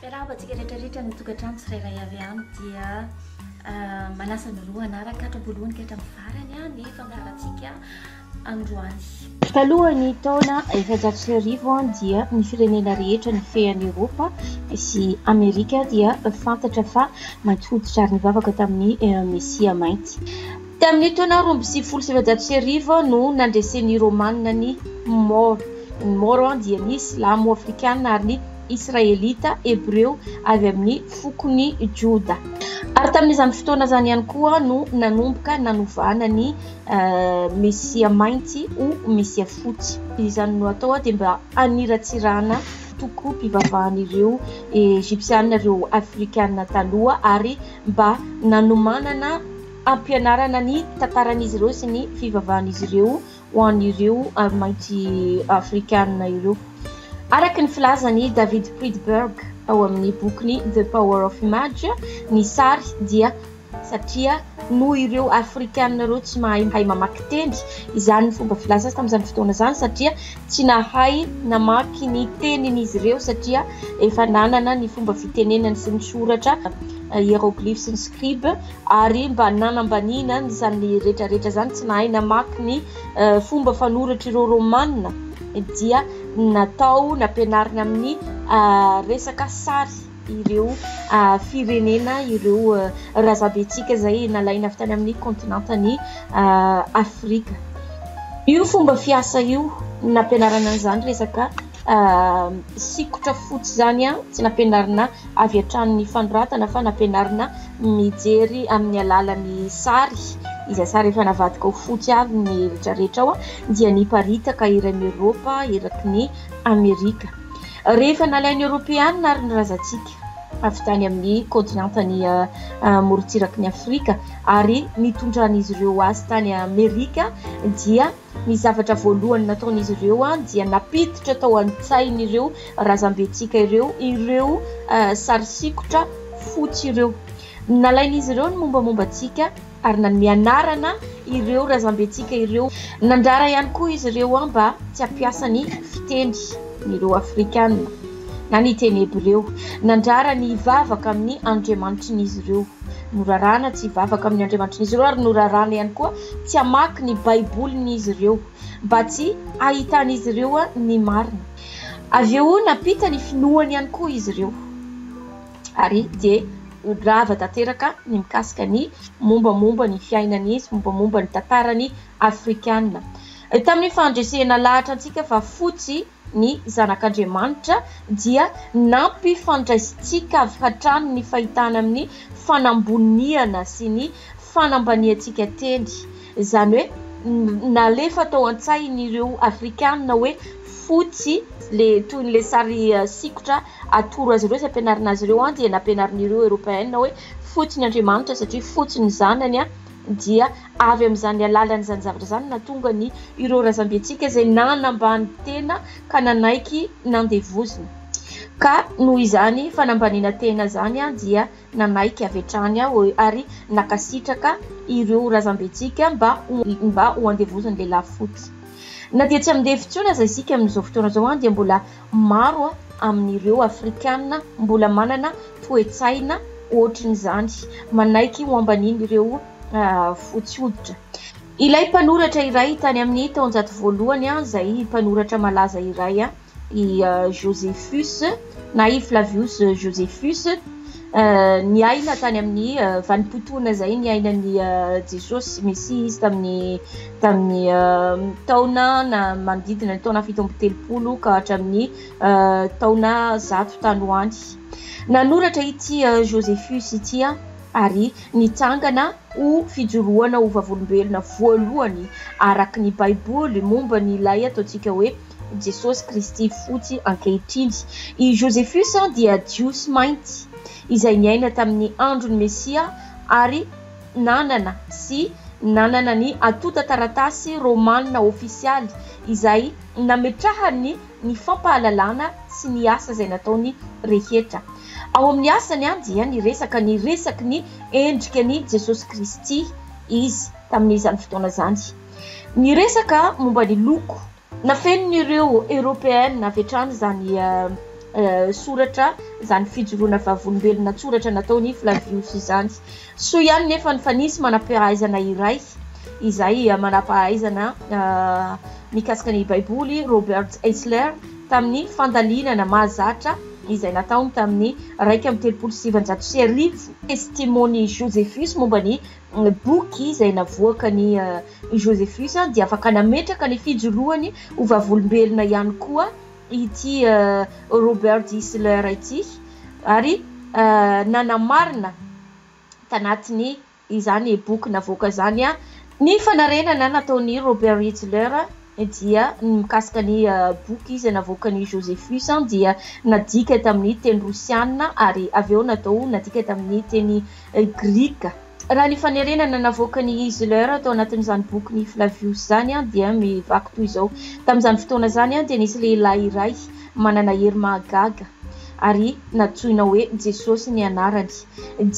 Miarahaba antsika rehetra rehetra ny tokantrano tsirairay avy any dia manasa ny roa hanaraka hatrabolohany ka hatramin'ny farany a ny fandaharantsika androany. Talohan'ny taona efajato sy arivo an dia ny firenena rehetra ny fean'i Eropa sy Amerika dia fantatra fa mainty hoditra ary nivavaka tamin'ny Mesia mainty. Tamin'ny taona roa amby sivifolo sy sivinjato sy arivo no nandresen'ny Romanina ny Mor. Ny Mor dia ny Silamo afrikana ary ny Israelita hebreo avy amin'ny fokon'i Joda. Ary tamin'izany fotoana izany ihany koa no nanomboka nanovana ny Mesia mainty ho Mesia fotsy. Izany no atao dia mba haniratsirana tokoa mpivavahan'ireo Egypsiana ireo Afrikana taloha ary mba nanomanana hampianarana ny tantaran'izy ireo sy ny fivavahan'izy ireo ho an'ireo mainty afrikana ireo. Araka ny filazan'i David Friedberg ao amin'ny bokiny The Power of Image, ny sary dia satria noho ireo afrikana ireo tsy mahay mamaky teny, izany ny fomba filaza tamin'izany fotoana izany satria tsy nahay namaky ny tenin'izy ireo satria efa nanana ny fomba fitenenany sy ny soratra, hieroglyphes sy ny scribe, Ary mba nanambaniana an'izany retraretra izany, tsy nahay namaky ny fomba fanoratr'ireo Romanina, dia natao nampianarina amin'ny resaka sary ireo firenena, ireo razabentsika izay nalaina avy tany amin'ny kontinentan'i Afrika. Io fomba fiasa io nampianarana an'izany resaka. sikotra fotsy izany an tsy nampianarina avy hatrany ny fanoratana fa nampianarina mijery amin'ny alalan'ny sary izay sary efa navadika ho fotsy avy ny rehetra rehetra ao dia niparitaka eran'i Eoropa eraky ny Amerika rehefa nalain'ny Eoropeanina ary ny razantsika avy tany amin'ny kontinentany morontsirak'i Afrika ary nitondran'izy ireo azy tany Amerika dia Ny zavatra voalohany nataon'izy ireo dia nampiditra tao an-tsain'ireo razambentsika ireo ireo sary sikotra fotsy ireo. Nalain'izy ireo ny mombamomba antsika ary nanome anarana ireo razambentsika ireo. Nandrara ihany koa izy ireo mba tsy hampiasa ny fiteny ireo Afrikana. Na ny teny hebreo. Nandrara ny hivavaka amin'ny andriamanitrin'izy ireo. Norarana tsy hivavaka amin'ny andriamanitrin'izy ireo ary norarana ihany koa tsy hamaky ny Baibolin'izy ireo, mba tsy hahitan'izy ireo ny marina. Avy eo nampita ny finoany ihany koa izy ireo, ary dia rava tanteraka ny mikasika ny mombamomba ny fiainany sy mombamomba ny tantarany afrikana. Tamin'ny fandresena lahatra antsika fa fotsy ny Zanak'Andriamanitra dia nampifandraisintsika avy hatrany ny fahitana amin'ny fanamboniana sy ny fanambaniantsika teny, izany hoe nalefa tao an-tsain'ireo Afrikana hoe fotsy, ilay toy ilay sary sikotra atoro azy ireo sy ampianarina azy ireo dia nampianarin'ireo Eropeana hoe fotsy ny Andriamanitra satria fotsy ny zanany. dia avy amin'izany alalan'izany zavatra izany no nahatonga ny ireo razambentsika izay nanambany tena ka nanaiky nandevozina ka noho izany fanambaniana tena izany aho dia nanaiky avy hatrany aho ary nakasitraka ireo razambentsika mba mba ho andevozin'ny lehilahy fotsy na dia tsy amin'devo intsony aza isika amin'izao fotoana izao aho dia mbola Maro amin'ireo Afrikana mbola manana toe-tsaina hoatrin'izany, manaiky ho ambanin'ireo fotsy hoditra. Ilay mpanoratra iray tany amin'ny taonjato voalohany, izay mpanoratra malaza iray, i Josephus na i Flavius Josephus, Ny aina tany amin'ny vanim-potoana izay niainan'i Jesosy Mesia izy tamin'ny tamin'ny taona na manodidina ny taona fito amby telopolo ka hatramin'ny taona zato tany ho any. Nanoratra ity Josephus ity ary nitsangana ho fijoroana ho vavolombelona voalohany araka ny Baiboly momba ny ilay ataontsika hoe I Jesosy Kristy fotsy ankehitriny. I Josephus dia Jiosy mainty izay niaina tamin'ny andron'ny Mesia ary nanana sy nanana ny antontan-taratasy romanina ofisialy izay nametrahany ny fampahalalana sy ny asa izay nataony rehetra. Ao amin'ny asany dia niresaka ny resaky ny endrika an'i Jesosy Kristy izy tamin'izany fotoana izany. Niresaka momba ny loko. Nafenin'ireo Eoropeana avy hatrany izany soratra, izany fijoroana vavolombelona an-tsoratra nataon'i Flavius izany. Soa ihany nefa ny fa nisy manam-pahaizana iray izay manam-pahaizana mikasika ny Baiboly, Robert Eisler, tamin'ny fandalinana mahazatra izay nataony tamin'ny iraika amby telopolo sy sivinjato sy arivo, Testimony Josephus momba ny boky izay navoakan' i Josephus dia afaka nametraka ny fijoroany ho vavolombelona ihany koa ity Robert Isler ity ary nanamarina tanatin' izany boky navoaka izany ny fanarenana nataon' i Robert Isler Ny dia ny mikasika ny boky izay navoakan'i Josephus dia nadika tamin'ny teny rosianina ary avy eo natao nadika tamin'ny teny grika. Raha ny fanerena navoakan'i Isler tao anatin'izany bokin'i Flavius izany dia mivaky toy izao, Tamin'izany fotoana izany dia nisy lehilahy iray manana hery mahagaga ary nantsoina hoe Jesosy ny anarany.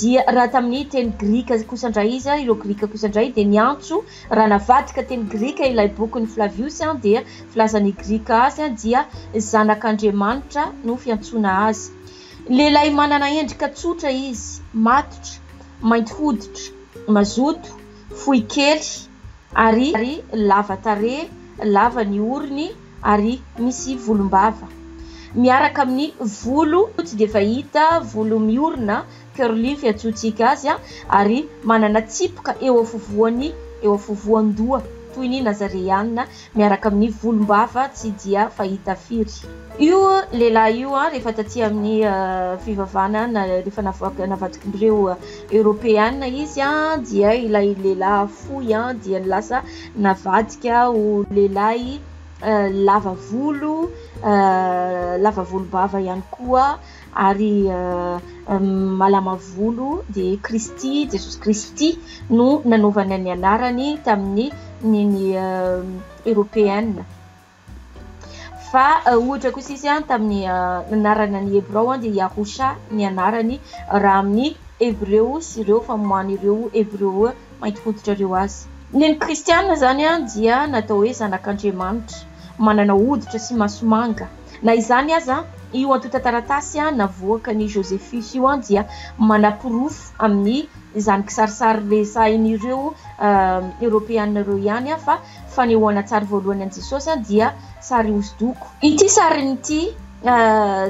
Dia raha tamin'ny teny grika kosa indray izy, ireo grika kosa indray dia niantso Raha navadika teny grika ilay bokin'i Flaviosy dia filaza ny grika azy dia zanak'Andriamanitra no fiantsoana azy. Lehilahy manana endrika tsotra izy, matotra, mainty hoditra, mazoto, fohy kely ary lava tarehy, lava ny orony ary misy volombava miaraka amin'ny volo tsy dia fahita, volo miorina. Curly fiantsoantsika azy ary manana tsipoka eo afovoany eo afovoan-doha toy ny Nazareana miaraka amin'ny volom-bava tsy dia fahita firy. Io lehilahy io rehefa taty amin'ny fivavahana na rehefa navadikin'ireo Eoropeana izy dia ilay lehilahy fohy dia lasa navadika ho lehilahy lava volo, lava volom-bava ihany koa Ary malama volo dia Kristy, Jesosy Kristy no nanaovana ny anarany tamin'ny ny Eropeana. Fa ohatra kosa izy tamin'ny anarana ny Hebrao dia Yahusha ny anarany raha amin'ny Hebreo sy ireo famoahan'ireo Hebreo mainty hoditra ireo azy. Ny an'ny Kristiana izany dia natao hoe zanak'Andriamanitra, manana hoditra sy maso manga. Na izany aza, io antontan-taratasy navoakan'i Josephus io dia manaporofo amin'izany kisarisary resahin'ireo Eoropeana ireo ihany fa fanehoan-tsary voalohany an'i Jesosy dia sary hosodoko. Ity sarin'ity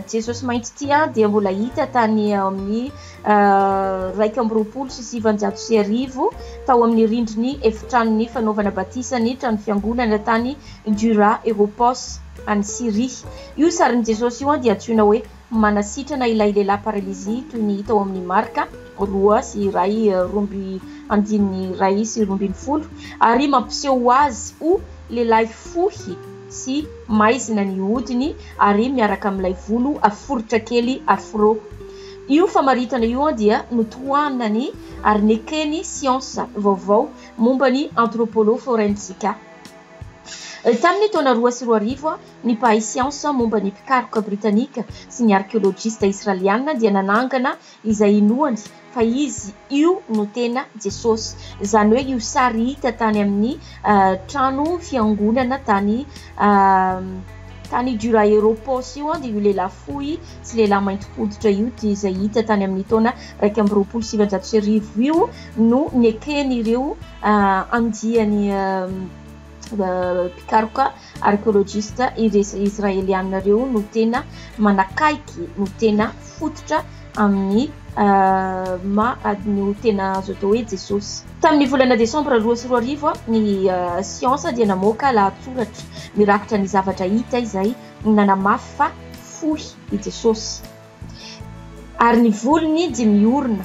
Jesosy mainty ity dia mbola hita tany amin'ny iraika amby roapolo sy sivinjato sy arivo tao amin'ny rindrin'ny Efitranon'ny Fanaovana Batisa ny Trano Fiangonana tany Dura Europos, any Syria. Io sarin'i Jesosy io dia antsoina hoe manasitrana ilay lehilahy paralizy toy ny hita ao amin'ny Marka roa sy iray romby andininy iray sy roa ambin'ny folo ary mampiseho azy ho lehilahy fohy sy maizina ny hodiny ary miaraka amin'ilay volo foritra kely afro. Io famaritana io dia notohanany ary neken'ny siansa vaovao momba ny Anthropoloforensica. Tamin'ny taona roa sy roa arivo, ny mpahay siansa momba ny mpikaroka britanika sy ny arkeolojista israeliana dia nanangana izay inoany fa izy io no tena Jesosy, izany hoe io sary hita tany amin'ny trano fiangonana tany tany Dura-Europos io, dia io lehilahy fohy sy lehilahy mainty hoditra io, dia izay hita tany amin'ny taona iraika amby roapolo sy sivinjato sy arivo io no neken'ireo andiany mpikaroka arkeolojista israeliana ireo no tena manakaiky, no tena fototra amin'ny maha no tena azo atao hoe Jesosy. Tamin'ny volana desambra roa sy roa arivo, ny siansa dia namoaka lahatsoratra mirakitra ny zavatra hita izay nanamafy fa fohy i Jesosy. Ary ny volony dia miorina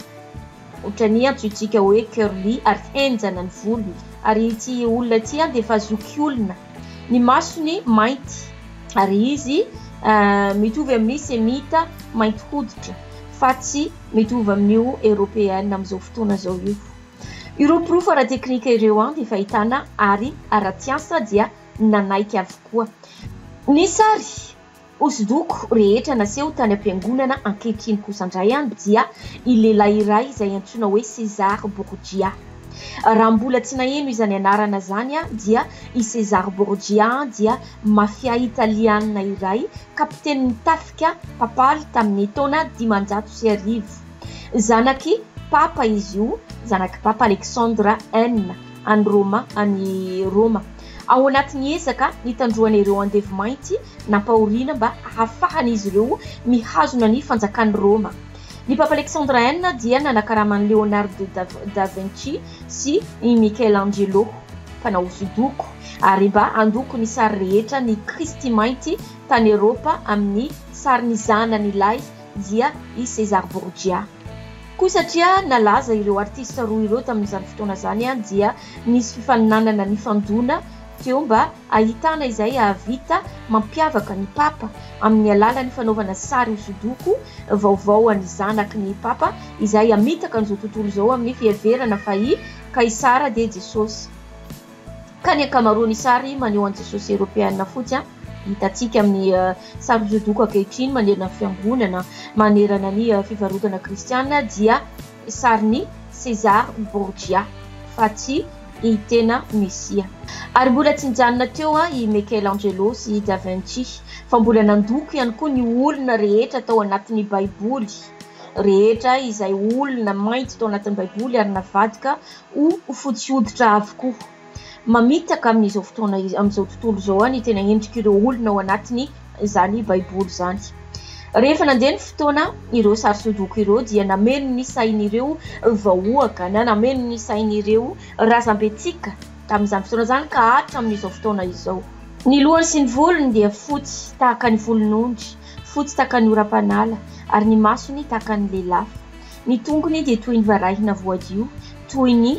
ohatran'ny antsointsika hoe curly ary henjana ny volony ary ity olona ity dia efa zokiolona, ny masony mainty ary izy mitovy amin'ny semita mainty hoditra fa tsy mitovy amin'io eropeana amin'izao fotoana izao io. Ireo porofo ara-teknika ireo dia fahitana ary ara-tsiansa dia nanaiky avokoa. Ny sary. Hosodoko rehetra naseho tany am-piangonana ankehitriny kosa indray dia i lehilahy iray izay antsoina hoe César Borgia. Raha mbola tsy naheno izany anarana izany aho dia i César Borgia dia mafia italiana iray, kapitenin'ny tafika papaly tamin'ny taona dimanjato sy arivo. Zanak'i Papa izy io, zanak'i Papa Alexandre I. any Roma, any Roma, ao anatin'ny ezaka nitandroana ireo andevo mainty nampahoriana mba hahafahan'izy ireo mihazona ny fanjakan'i Roma. Ny Papa Alexandre I dia nanakarama an'i Leonardo da Vinci sy i Michelangelo, mpanao hosodoko, ary mba handoko ny sary rehetra ny Kristy mainty tany Eropa amin'ny sarin'ny zanany lahy dia i César Borgia. Koa satria nalaza ireo artista roa ireo tamin'izany fotoana izany dia nisy fifaninanana nifandona teo mba hahitana izay hahavita mampiavaka ny Papa amin'ny alalan'ny fanaovana sary hosodoko vaovao an'ny zanaky ny Papa izay hamitaka an'izao tontolo izao amin'ny fiheverana fa i Kaisara dia Jesosy Ka ny ankamaroan'ny sary maneho an'i Jesosy Eropeana fotsy hitantsika amin'ny sary hosodoko ankehitriny manerana ny fiangonana, manerana ny fivarotana kristiana dia sarin'i César Borgia fa tsy i tena Mesia. Ary mbola tsy nijanona teo i Michelangelo sy i Da Vinci fa mbola nandoko ihany koa ny olona rehetra tao anatin'ny Baiboly rehetra, izay olona mainty tao anatin'ny Baiboly ary navadika ho fotsy hoditra avokoa. Mamitaka amin'izao fotoana, amin'izao tontolo izao ny tena endrik'ireo olona ao anatin'izany Baiboly izany. Rehefa nandeha ny fotoana, ireo sary sodoko ireo dia nameno ny sain'ireo vahoaka na nameno ny sain'ireo razambentsika tamin'izany fotoana izany ka hatramin'izao fotoana izao. Ny lohany sy ny volony dia fotsy tahaka ny volon'ondry, fotsy tahaka ny oram-panala, ary ny masony tahaka ny lelafo. Ny tongony dia toy ny varahina voadio, toy ny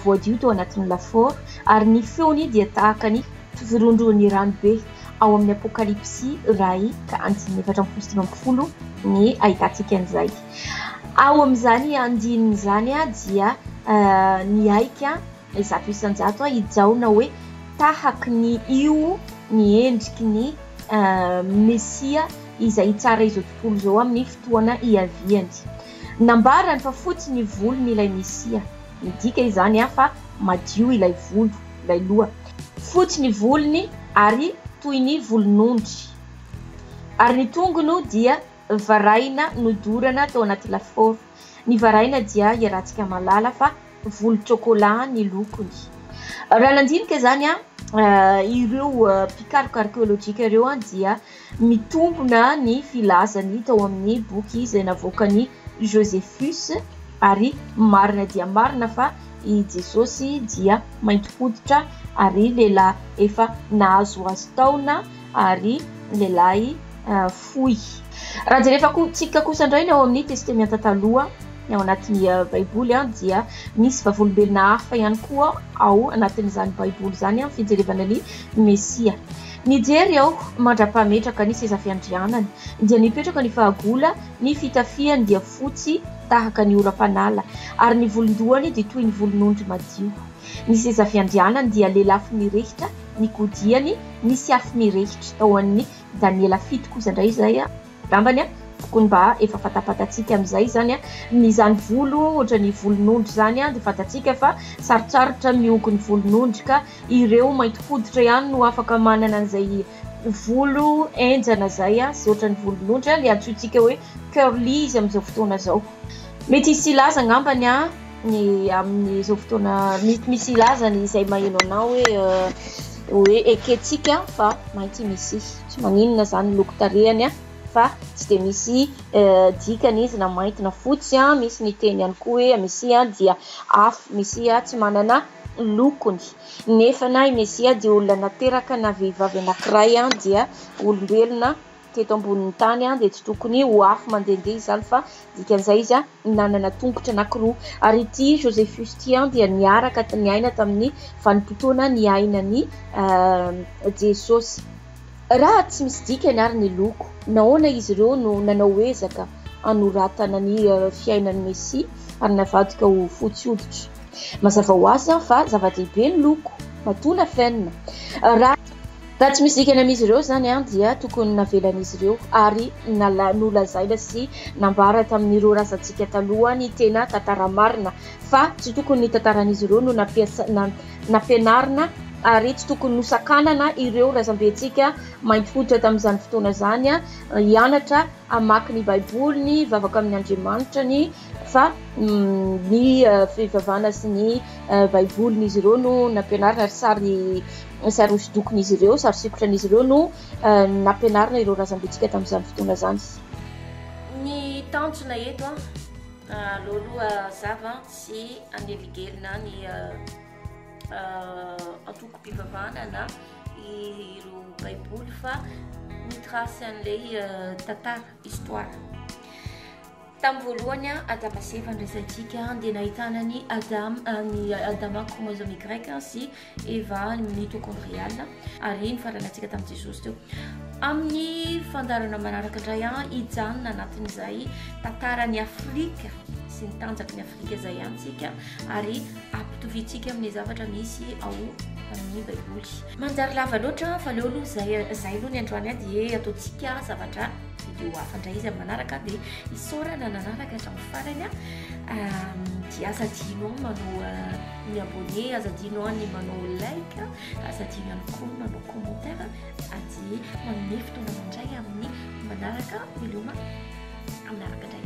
voadio tao anatin'ny lafaoro, ary ny feony dia tahaka ny firondron'ny rano be. Ao amin'ny Apokalypsy iray ka andininy efatra amby folo sy sivy ambin'ny folo ny ahitantsika an'izay. Ao amin'izany andininy izany dia nihaika Zato isan-jato aho hijaona hoe tahaky ny io ny endriky ny Mesia izay hitsara izao tontolo izao amin'ny fotoana hiaviany. Nambarany fa fotsy ny volony ilay Mesia. Midika izany fa madio ilay volo, ilay loha. Fotsy ny volony ary toy ny volon'ondry, ary ny tongony dia Varahina nodorana tao anaty lafaoro. Ny varahina dia hiarantsika malala fa volon-tsôkôlà ny lokony. Raha nandinika izany ireo mpikaroka arkeôlôjika ireo dia mitombona ny filazany tao amin'ny boky izay navoakan'i Josephus ary marina dia marina fa i Jesôsy dia mainty hoditra ary lehilahy efa nahazohazo taona. ary lehilahy fohy. Raha jerevako tsika kosa indray ny ao amin'ny Testemianta Taloha, ny ao anatin'ny Baiboly, dia misy vavolombelona hafa ihany koa ao anatin'izany Baiboly izany amin'ny fijerevana ny Mesia. Nijery aho mandra-pahametraka ny seza fiandrianany, dia nipetraka ny fahagola, ny fitafiany dia fotsy tahaka ny oram-panala, ary ny volon-dohany dia toy ny volon'ondry madio. Ny seza fiandrianany dia lelafo mirehitra, ny godiany nisy afo mirehitra tao an'ny Daniela fito kosa indray izay a! Angambany a! tokony mba efa fantapatantsika amin'izay izany a! ny izany volo ohatran'ny volon'ondry izany a! dia fantatsika fa sarotsarotra ny mihogo ny volon'ondry ka ireo mainty hoditra ihany no afaka manana an'izay volo henjana izay a! izay ohatran'ny volon'ondry a! ilay antsointsika hoe curly izy amin'izao fotoana izao. Mety hisy hilaza angambany a! ny amin'izao fotoana mety misy hilaza ny izay maheno anao hoe hoe ekentsika fa maintsy misy tsy maninona zany ny loko tarehany a fa tsy dia misy dikany izy na mainty na fotsy a misy ny teny ihany koa hoe mesia dia afo mesia tsy manana lokony nefa na i mesia dia olona nateraka na vehivavy anankiray a dia olombelona teto ambonin'ny tany dia tsy tokony ho afo mandehandeha izany fa dikan'izay izy nanana tongotra anankiroa. Ary ity Josephus ity dia niaraka niaina tamin'ny vanim-potoana niainan'i Jesosy. Raha tsy misy dikany àry ny loko, nahoana izy ireo no nanao ezaka hanoratana ny fiainan'ny Mesia ary navadika ho fotsy hoditra? Mazava ho azy fa zava-dehibe ny loko, matoa nafenina. Raha. Raha tsy misy dikany amin'izy ireo izany dia tokony navelan'izy ireo ary nolazaina sy nambara tamin'ireo razantsika taloha ny tena tantara marina fa tsy tokony ny tantaran'izy ireo no nampianarina ary tsy tokony nosakanana ireo razambentsika mainty hoditra tamin'izany fotoana izany hianatra hamaky ny baiboly ny vavaka amin'Andriamanitra ny fa ny fivavahana sy ny baibolin'izy ireo no nampianarina ary sary sary hosodokon'izy ireo, sary sikotran'izy ireo no nampianarina ireo razambentsika tamin'izany fotoana izany. Ny tanjona eto an, aloha zava tsy aneligelina ny antoko-pivavahana na ireo baiboly fa mitrasy an'ilay tantara, histoire. Tamin'ny voalohany, Adama-sy-Eva andraisantsika, dia nahitana an'i Adama, ny Adama chromosome Y sy Eva mitochondriale, ary nifaranantsika tamin'i Jesosy teo. Amin'ny fandaharana manaraka indray, hijanona anatin'izay tantaran'i Afrika sy ny tanjaky ny Afrika izay ihany tsika, ary ampitoviantsika amin'ny zavatra misy ao amin'ny Baiboly. Manjary lava loatra, fa aleo aloha izay, izay aloha ny androany dia ataontsika zavatra. Video hafa indray izy amin'ny manaraka dia isaorana nanaraka hatramin'ny farany a. Ehm, dia aza adino manao eh, ny abonné, aza adino ny manao like, aza adino ihany koa ny manao commentaire aty manome fotoana mandray amin'ny manaraka. Veloma amin'ny araka indray.